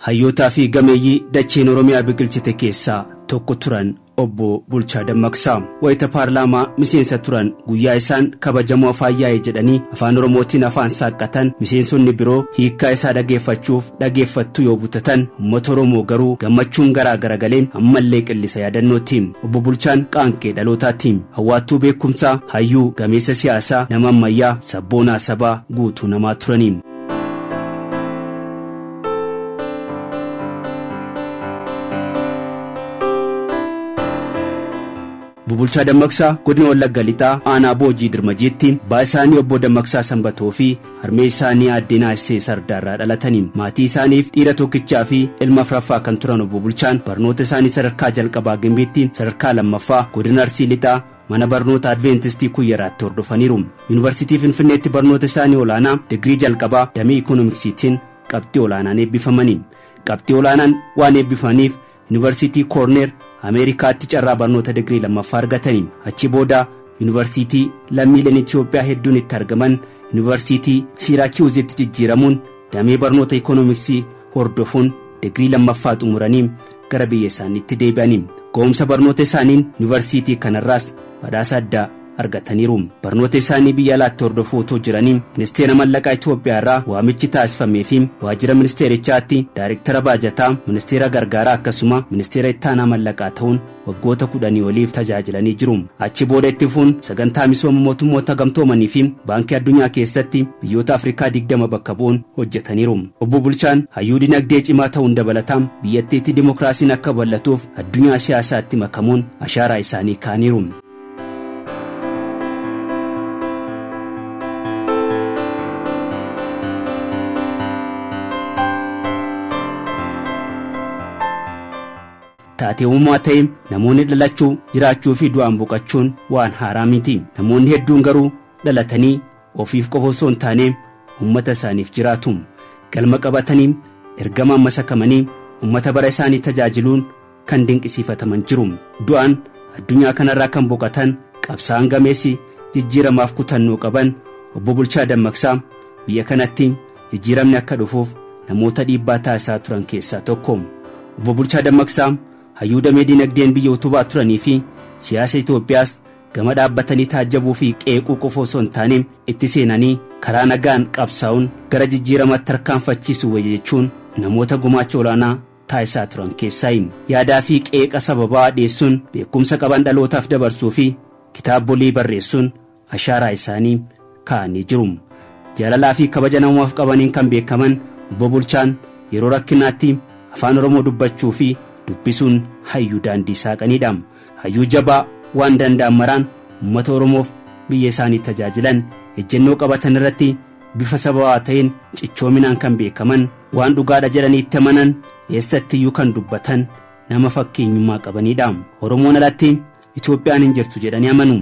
hayyootaa fi gameeyyii dacheen oromiyaa biqilchite keessaa tokko turan obbo Bulchaa Dammaqsaa wayita paarlaamaa miseensa turan guyyaa isaan kabajamoo afaan yaa'e jedhanii Afaan Oromootiin afaan saaqqatan miseensonni biroo hiikkaa isaa dhageeffachuuf dhageeffattuu yoo butatan uummata Oromoo garuu gammachuun garaa garagalee ammallee qillisa yaadannooti. Obbo Bulchaan qaanqee dhalootaati. Hawwaattuu beekumsaa, hayyuu, gameessa siyaasaa, nama ammayyaa, sabboonaa sabaa, guutuu namaa turani. Bubulchaa Dammaqsaa Godina Wallagga Lixaa Aanaa Boojii Dirmajiitti Abbaa isaanii Obbo Dammaqsaa Sanbatoo fi Harmee isaanii Aaddee Naasisee Sardaarraa dhalataniin maatii isaaniif dhiira tokkichaa fi ilma afraffaa kan turan Obbo Bulchaan barnoota isaanii sadarkaa jalqabaa Gimbiitti sadarkaa lammaffaa Godina Arsii Lixaa mana barnoota Adveentistii Kuyyaraatti hordofaniiru. Yuunivarsiitii Finfinneetti barnoota isaanii olaanaa digirii jalqabaa damee Ikoonomiksiitiin qabxii olaanaan eebbifamanii. Qabxii olaanaan waan eebbifamaniif Yuunivarsiitii Koorneer Ameerikaatti carraa barnoota digirii lammaffaa argataniin achi booda Yuunivarsiitii lammiileen Itiyoophiyaa hedduun itti argaman Yuunivarsiitii Siiraakiyuuzitti jijjiiramuun damee barnoota Ikoonomiksii hordofuun digirii lammaffaa xumuranii gara biyya isaaniitti deebi'ani. Ga'umsa barnoota isaaniin Yuunivarsiitii kanarraas badhaasa addaa argataniiru. Barnoota isaanii biyya alaatti hordofuu utuu jiranii Ministeera Mallaqaa Itoophiyaa irraa waamichi taasifamee fi waajjira ministeerichaatti Daayrektara Baajataa, Ministeera Gargaaraa akkasuma Ministeera Ittaanaa Mallaqaa ta'uun waggoota kudhanii oliif tajaajilanii jiru. Achi booda itti fufuun Sagantaa Misooma Mootummoota Gamtoomanii fi Baankii Addunyaa keessatti biyyoota Afrikaa 20 bakka bu'uun hojjetaniiru. Obbo Bulchaan hayyuu dinagdee cimaa ta'uun dabalataa biyyattiitti dimokiraasiin akka bal'atuuf addunyaa siyaasaatti makamuun ashaaraa isaanii kaa'aniiru. taatee uumamaa ta'e namoonni dhalachuu jiraachuu fi du'aan boqachuun waan haaraa miti namoonni hedduun garuu dhalatanii ofiif qofa osoo hin taane uummata isaaniif jiraatu galma qabatanii ergamaan masakamanii uummata bara isaanii tajaajiluun kan dinqisiifataman jiru. Du'aan addunyaa kanarraa kan boqatan qabsaa'aan gameessi jijjiiramaaf kutannoo qaban obbo Bulchaa Dammaqsaa biyya kanatti jijjiiramni akka dhufuuf namoota dhiibbaa taasisaa turan keessaa tokko. Obbo Bulchaa Dammaqsaa hayyuu damee dinagdeen biyya utubaa turanii fi siyaasa Itoophiyaas gama dhaabbatanii taajjabuu fi qeequu qofa osoo hin taane itti seenanii karaa nagaan qabsaa'uun gara jijjiiramaatti tarkaanfachiisuu wayya jechuun namoota gumaacha olaanaa taasisaa turan keessaayi. Yaadaa fi qeeqa sababaa dhiyeessuun beekumsa qaban dhalootaaf dabarsuu fi kitaabbolii barreessuun ashaaraa isaanii kaa'anii jiru. Jaalalaa fi kabaja namoomaaf qabaniin kan beekaman obbo Bulchaan yeroo rakkinaatti afaan Oromoo dubbachuu fi dubbisuun hayyuu daandii saaqaniidha. Hayyuu jabaa waan danda'an maraan uummata Oromoof biyya isaanii tajaajilan ejjennoo qabatan irratti bifa sabawaa ta'een cichoominaan kan beekaman, waan dhugaadha jedhanii itti amanan, eessattiyyuu kan dubbatan, nama fakkeenyummaa qabaniidha. Oromoon alatti Itoophiyaan hin jirtu jedhanii amanu.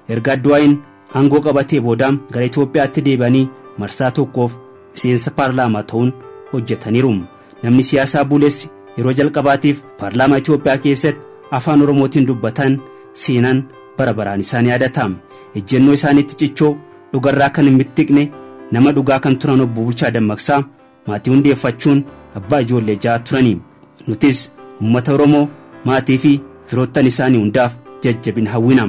Erga Adwaayiin aangoo qabatee booda gara Itoophiyaatti deebi'anii marsaa tokkoof miseensa paarlaamaa ta'uun hojjetaniiru. Namni siyaasaa buulessi yeroo jalqabaatiif paarlaamaa Itoophiyaa keessatti afaan Oromootiin dubbatan seenaan bara baraan isaan yaadata. Ejjennoo isaaniitti cichoo Dhugarraa kan hin bittiqne, nama dhugaa kan turan Obbo Bulchaa Dammaqsaa maatii hundeeffachuun abbaa ijoollee ja'a turani. Nutis uummata Oromoo, maatii fi firoottan isaanii hundaaf jajjabina hawwina.